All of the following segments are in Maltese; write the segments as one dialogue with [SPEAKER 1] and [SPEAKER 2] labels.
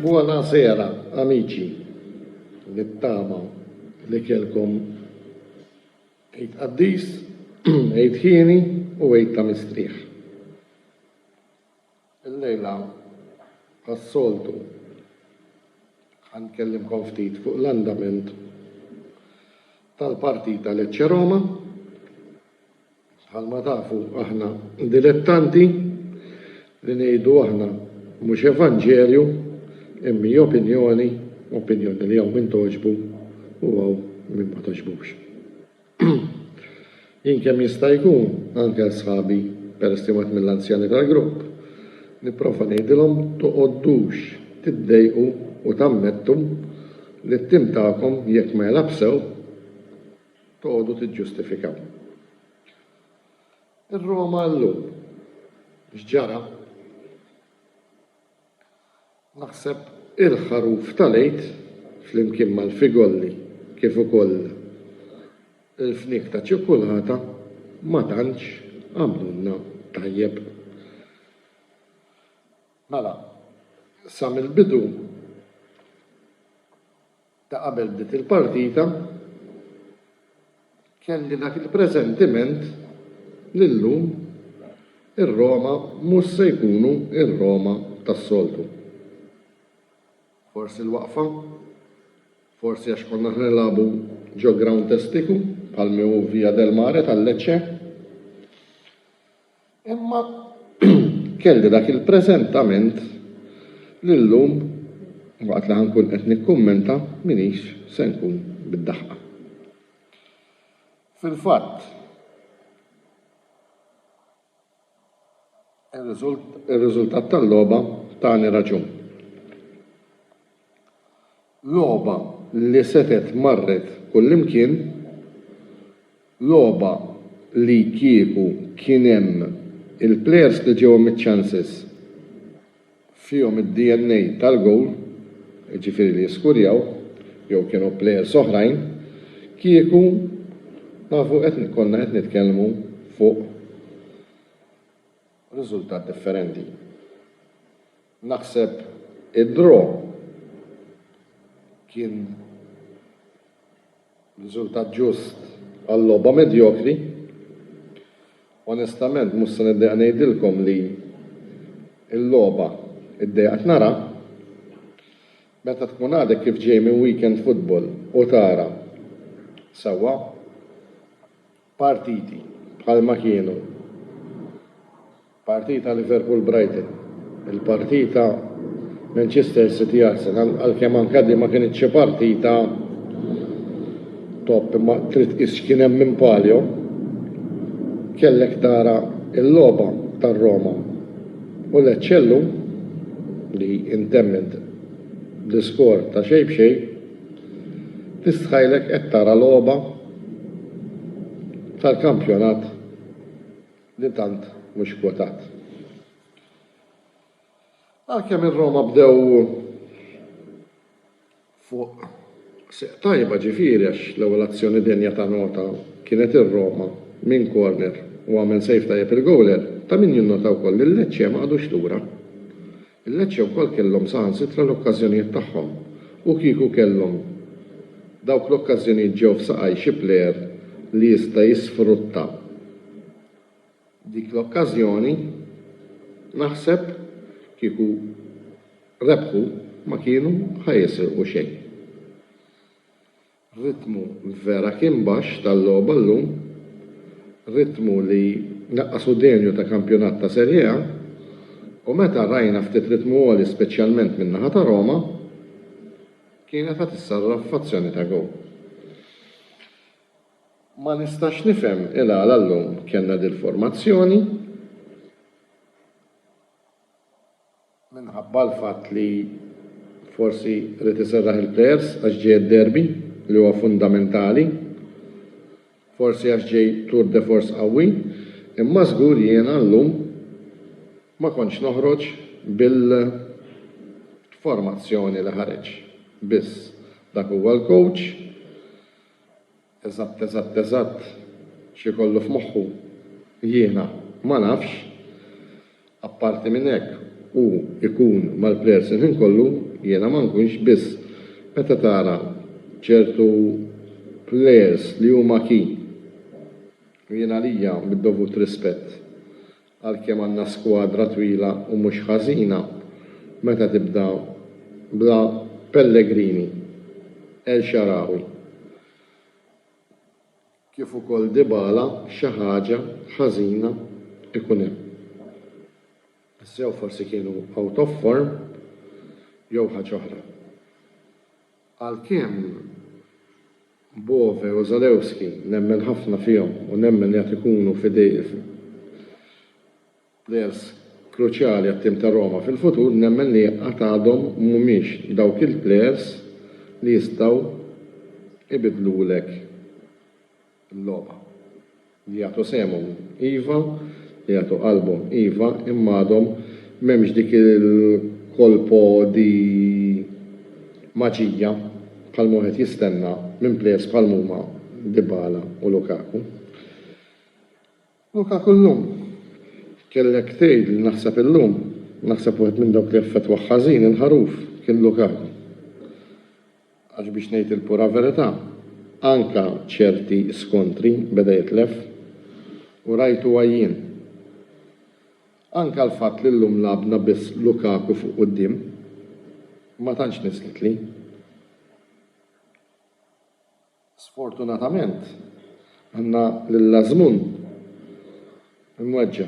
[SPEAKER 1] Buonasera, amici. Nittama li kelkom Eid Qaddis, Eid Hieni u Eid ta' Mistrieħ. Illejla, bħas-soltu, ħa nkellimkom ftit fuq l-andament tal-partita Lecce-Roma. Bħalma tafu aħna dilettanti li ngħidu aħna mhux evanġelju imma opinjoni, opinjoni li hawn min togħġbu u hawn min ma togħġbux. Jien kemm jista' jkun, anke għal sħabi, peress li wieħed mill-anzjani tal-grupp, nipprova ngħidilhom toqgħodux tiddejqu u tammettu li t-tim tagħkom jekk ma jilgħabx sew, toqgħodu tiġġustifikaw. Ir-Roma llum x'ġara? Naħseb il-ħaruf tal-Għid flimkien mal-figolli kif ukoll il-fniek ta' ċikkulata ma tantx għamlulna tajjeb. Mela, sa mill-bidu. ta' qabel bdiet il-partita, kelli dak il-presentiment li llum ir-Roma mhux se jkunu r-Roma tas-soltu. Forsi l-waqfa, forsi għax konna qed nilagħbu ġo grawnd testiku bħal mi hu Via del Mare tal-Lecce, Imma kelli dak il-preżentament li llum waqt li ħa nkun qed nikkummenta m'iniex se nkun bid-daħqa. Fil-fatt, ir-riżultat tal-logħba tani raġun. Logħba li setgħet marret kullimkien, logħba li kieku kien hemm il-plejers li ġewhom iċ-ċanses fihom id-DNA tal-gowl, jiġifieri li jiskurjaw, jew kienu plejers oħrajn, kieku nafu qed konna qed nitkellmu fuq riżultat differenti. Naħseb id-draw kien riżultat ġust għal logħba medjokri. Onestament mhux se niddejjaq ngħidilkom li l-logħba ddejjaqt naraha. Meta tkun għadek kif ġej minn weekend futbol u tara sewwa. partiti bħalma kienu partita Liverpool-Brighton, il-partita Manchester City-Arsenal, għalkemm anke din ma kinitx xi partita top imma trid tqis x'kien hemm minn palio, kellek tara l-logħba tar-Roma u Lecce llum li intemmet bl-iskor ta' xejn b'xejn. Tistħajlek qed tara logħba tal-kampjonat li tant mhux kwotat. Għalkemm ir-Roma bdew fuq seq tajba ġifieri għax l-ewwel azzjoni denja ta' nota kienet ir-Roma minn corner u għamel save tajjeb il-gowler, ta' min jinnota wkoll li l-Lecce ma qagħdux lura. Il-Lecce wkoll kellhom saħansitra l-okkażjonijiet tagħhom u kieku kellhom dawk l-okkażjonijiet ġew f'saqaj xi plejer li jista' jisfrutta dik l-okkażjoni naħseb kieku rebħu ma kienu ħa jisirqu xejn. Ritmu vera kien baxx tal-logħba llum, ritmu li naqqasu denju ta' kampjonat ta' Serie A u meta rajna ftit ritmu għoli speċjalment min-naħa ta' Roma, kienet ħa tissarraf f'azzjoni ta' gowl. Ma nistax nifhem il-għala llum kellna dil-formazzjoni. minħabba l-fatt li forsi ried iserraħ il-plejers għax ġej id-derby li huwa fundamentali, forsi għax ġej tour de force qawwi, imma żgur jiena llum ma kontx noħroġ bil-formazzjoni li ħareġ. Biss, dak huwa l-coach. Eżatt eżatt eżatt x'ikollu f'moħħu jiena ma nafx. Apparti minn hekk hu jkun mal-plejers il-ħin kollu jiena ma nkunx biss meta tara ċertu plejers li huma key u jien għalija bid-dovut rispett Għalkemm għandna skwadra twila u mhux ħażina, meta tibda bla Pellegrini, El Shaarawy kif ukoll Dybala xi ħaġa ħażina ikun hemm. Sew forsi kienu out of form jew ħaġa oħra. Għalkemm Bove u Zalewski nemmen ħafna fihom u nemmen li għad ikunu players kruċjali għat-tim ta' Roma fil-futur, nemmen li għad għadhom mhumiex dawk il-players li jistgħu jbiddlulek l-logħba. Li jagħtu sehemhom, iva, li jagħtu qalbhom, iva, imma għadhom m'hemmx dik il-colpo di maġija bħalma wieħed jistenna minn players bħalma huma Dybala u Lukaku. Luka kullum. Kellek tgħid li naħseb illum, naħseb wieħed minn dawk li effettwah ħażin il-ħaruf kien Lukaku. Għax biex ngħid il-pura verità, anke ċerti skontri beda jitlef u rajtu għajjien. Anke l-fatt li llum lagħabna biss Lukaku fuq quddiem ma tantx nislitli. Sfortunatament, għandna lil Azmun imweġġa'.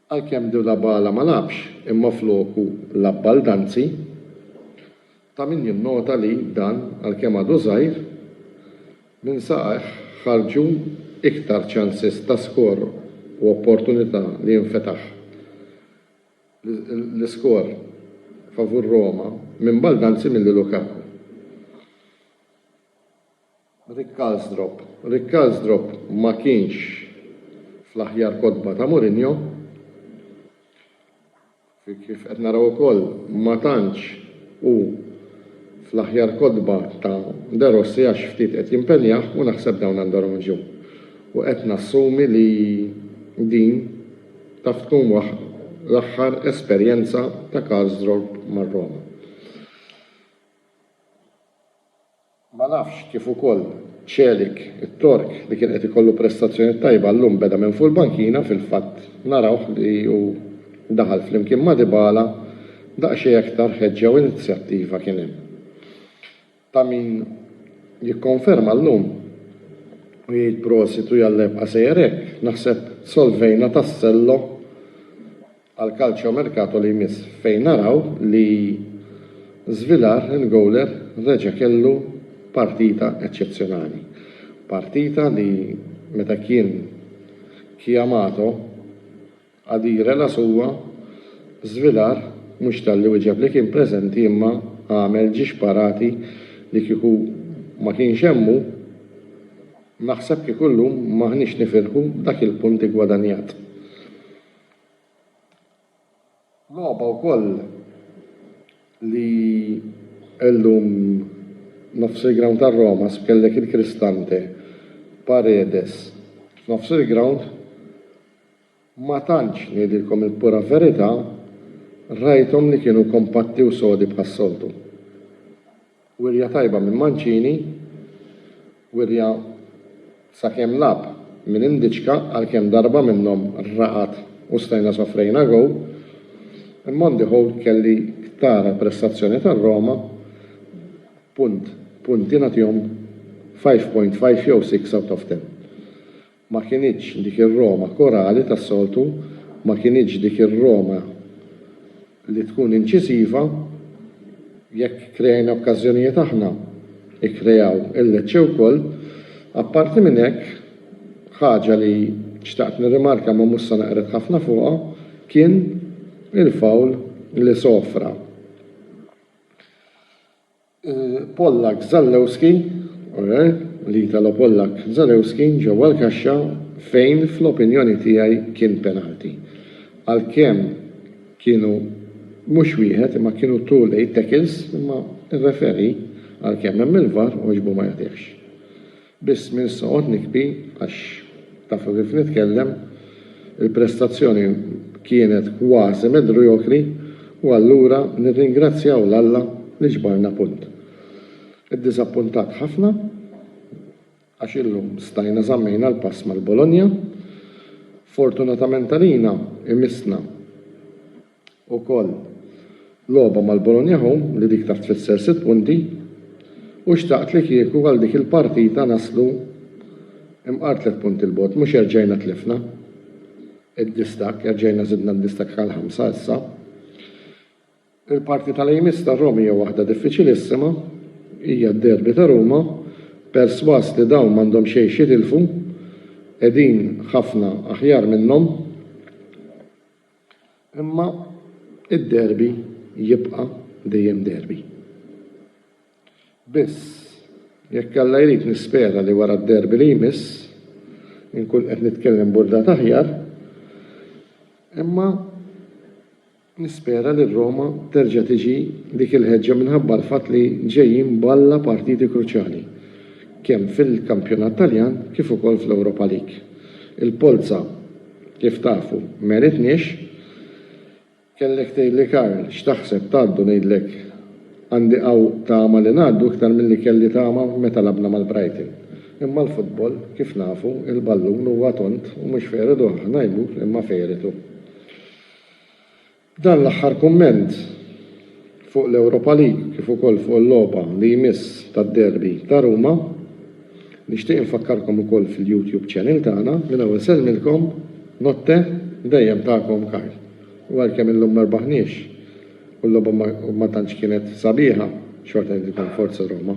[SPEAKER 1] Għalkemm Dybala ma lagħabx imma floku lagħab Baldanzi, ta' min jinnota li dan, għalkemm għadu żgħir, minn saqajh ħarġu iktar ċanses ta' skor u opportunità li jinfetaħ. l-iskor favur Roma minn Baldanzi milli Lukaku. Rick Karsdrop Rick Karsdrop ma kienx fl-aħjar kotba ta' Mourinho. Kif qed naraw ukoll ma tantx hu fl-aħjar kotba ta' De Rossi għax ftit qed jimpenjah u naħseb dawn għandhom raġun. U qed nassumi li din Taf tkun l-aħħar esperjenza ta' Karsdorp mar-Roma? Ma nafx kif ukoll Celik, it-Tork, li kien qed ikollu prestazzjoni tajba llum beda minn fuq il-bankina, fil-fatt narawh li hu daħal flimkien ma' Dybala, daqsxejn aktar ħeġġa u inizjattiva kien hemm. ta' min jikkonferma llum u jgħid prosit u jalla jibqa' sejjer hekk, naħseb solvejna tassello għal calciomercato li jmiss fejn naraw li Svilar il-gowler reġa' kellu partita eċċezzjonali. Partita li meta kien chiamato, Ghadir El Assoua, żvilar, mhux talli wieġeb li kien preżenti imma għamel ġiex xparati li kieku ma kienx hemm hu, naħseb kieku llum m'aħniex nifirħu b'dak il-punt iggwadanjat. Logħba wkoll li llum nofs il-grawnd tar-Roma kellek il-Cristante, Paredes f'nofs il-grawnd Ma tantx, ngħidilkom il-pura verità, rajthom li kienu kompatti u sodi bħas-soltu. Wirja tajba minn Mancini, wirja sakemm lagħab minn Indička għalkemm darba minnhom raqad u stajna sofrejna gowl, imma on the whole kelli tara l-prestazzjoni tar-Roma punt, punti nagħtihom 5.5 jew 6 out of 10. Ma kinitx dik ir-Roma korali tas-soltu, ma kinitx dik ir-Roma li tkun inċiżiva. Jekk kreajna okkażjonijiet aħna, ikkreaw il-Lecce wkoll. Apparti minn hekk, ħaġa li xtaqt nirrimarka ma mhux se neqred ħafna fuqha, kien il-foul li sofra. Pollak Zalewski u l-Italo Pollak Zalewski ġewwa l-kaxxa fejn fl-opinjoni tiegħi kien penalty. Għalkemm kienu mhux wieħed imma kienu two late tackles imma r-referee għalkemm hemm il-var għoġbu ma jagħtihx. Biss minn soqgħod nikbi għax tafu kif nitkellem, il-prestazzjoni kienet kważi medriokri u allura nirringrazzjaw 'l Alla li ġbarna punt. Iddiżappuntat ħafna għax illum stajna żammejna l-pass mal-Bologna. Fortunatament għalina imissna ukoll logħba mal-Bologna Home li dik taf tfisser sitt punti u xtaqt li kieku għal dik il-partita naslu imqar tliet punti 'l bogħod mhux erġajna tlifna d-distakk erġajna żidna d-distakk għal ħamsa issa. Il-partita li jmiss tar-Rom hija waħda diffiċilissima hija d-derby ta' Ruma persważ li dawn m'għandhom xejn x'jitilfu qegħdin ħafna aħjar minnhom. Imma id-derby jibqa' dejjem derby. Biss, jekk Alla jrid nispera li wara d-derby li jmiss inkun qed nitkellem b'urdat aħjar, imma nispera li r-Roma terġa' tiġi dik il-ħeġġa minħabba l-fatt li ġejjin b'alla partiti kruċjali kemm fil-Kampjonat Taljan kif ukoll fl-Europa League. Il-polza. Kif tafu, m'għenitniex. Kellek tgħidli Karl, x'taħseb, tgħaddu? Ngħidlek, għandi hawn tama li ngħaddu iktar milli kelli tama meta lagħbna mal-Brighton. Imma l-futbol, kif nafu, il-ballun huwa tond u mhux fejredu aħna jmur imma fejretu. Dan l-aħħar kumment fuq l-Europa League kif ukoll fuq il-logħba li jmiss tad-derby ta' Ruma. Nixtieq infakkarkom ukoll fil-YouTube channel tagħna. Minn hawn isellmilkom, Notte, dejjem tagħkom Karl. U għalkemm illum ma rbaħniex u l-logħba ma tantx kienet sabiħa, xorta ngħidilkom Forza Roma.